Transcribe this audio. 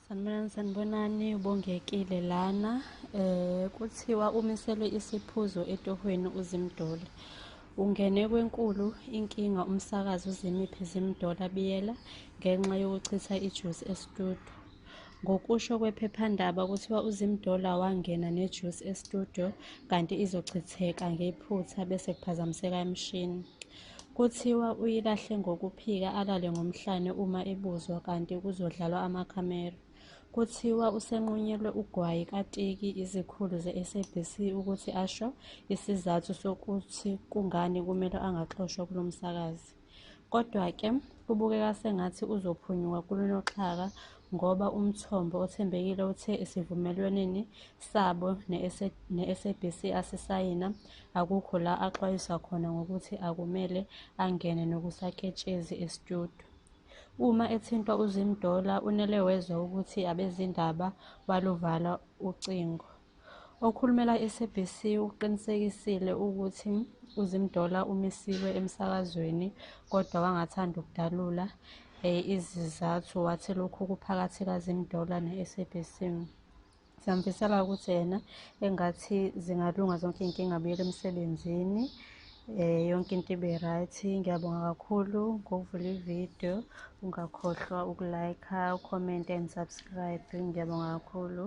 Sanibonani sanibonani ubongekile lana eh kuthiwa umiselwe isiphuzo etohweni uzimdole ungene kwenkulu inkinga umsakazi uzimiphi zimdola biyela ngenxa yokuchitha ijuice estudio ngokusho kwephephandaba kuthiwa uzimdola wangena nejuice estudio kanti izochitheka ngephutha bese kuphazamiseka imishini Kuthiwa uyilahle ngokuphika alale ngomhlane uma ebuzwa kanti kuzodlalwa amakhamera. Kuthiwa usenqunyelwe ugwayi katiki izikhulu ze-SABC ukuthi asho isizathu sokuthi kungani kumele angaxoshwa kulo msakazi. Kodwa-ke kubukeka sengathi uzophunyuka kunoxhaka ngoba umthombo othembekile uthe esivumelweneni sabo ne-SABC asisayina akukho la axwayiswa khona ngokuthi akumele angene nokusaketshezi estudio. Uma ethintwa uZimdollar unele wezwa ukuthi abezindaba baluvala ucingo. Okhulumela i-SABC ukuqinisekisile ukuthi uZimdollar umisiwe emsakazweni kodwa wangathanda ukudalula eh, izizathu wathi lokhu kuphakathi kaZimdollar ne-SABC. Siyamfisela ukuthi yena engathi zingalunga zonke iy'nkinga abuyele emsebenzini Eh yonke into ibe right. Ngiyabonga kakhulu ngokuvula ivideo. Ungakhohlwa ukulike, ucomment and subscribe. Ngiyabonga kakhulu.